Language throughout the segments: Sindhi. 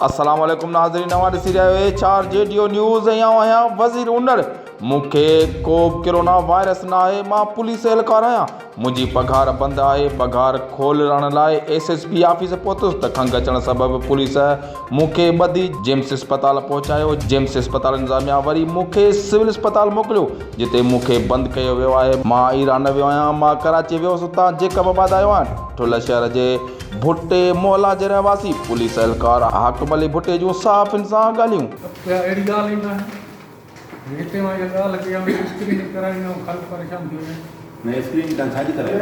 السلام عليڪم ناظرين اوهان ڏسي رهيا آهيو H R G D O news ۽ آئون آهيان وزير انڙ مون کي ڪوبه ڪرونا وائرس ناهي مان پوليس اهلڪار آهيان منهنجي پگهار بند آهي پگهار کولرڻ لاء ايس ايس پي آفيس پهتس ته کنگهه اچڻ سبب پوليس مون کي ٻڌي جيمس اسپتال پهچايو، جيمس اسپتال انتظاميا وري مون کي سول اسپتال موڪليو، جتي مون کي بند ڪيو ويو آهي، مان ايران نه ويو آهيان، مان ڪراچي ويو هوس، اتان جيڪب آباد آيو آهيان، ٺل شهر جي ڀٽي محلا جي رهواسي پوليس اهلڪار حاڪم علي ڀٽي جون صحافين سان ڳالهيون. اها اهڙي ڳالهه ئي ناهي جو هتي مان اها ڳالهه ڪيان ته اسڪريننگ ڪرائي ۽ خلق پريشان ٿيو وڃي. نه اسڪريننگ توهان ڇا جي ڪرائي؟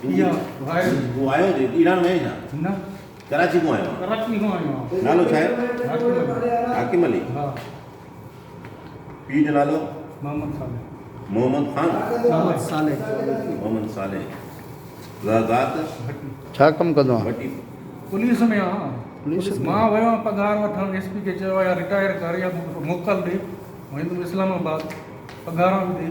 اها وائرس. ايران وئي ڇا؟ نه. ڪراچي کان آيو آهيان. ڪراچي کان آيو آهيان. نالو ڇا آهي؟ حاڪم علي. حاڪم علي. ها. پيء جو نالو؟ محمد صالح. محمد خان؟ محمد صالح. محمد صالح. ذا ذات؟ ڀٽي. ڇا ڪم ڪندو آهين؟ ڀٽي. پوليس ۾ آهيان. پوليس ۾؟ مان ويو آهيان پگهار وٺڻ ايس پي کي چيو آهي يا رٽائر ڪر يا مون کي موڪل ڏي. هو ايندم اسلام آباد. پگهاران به ڏي.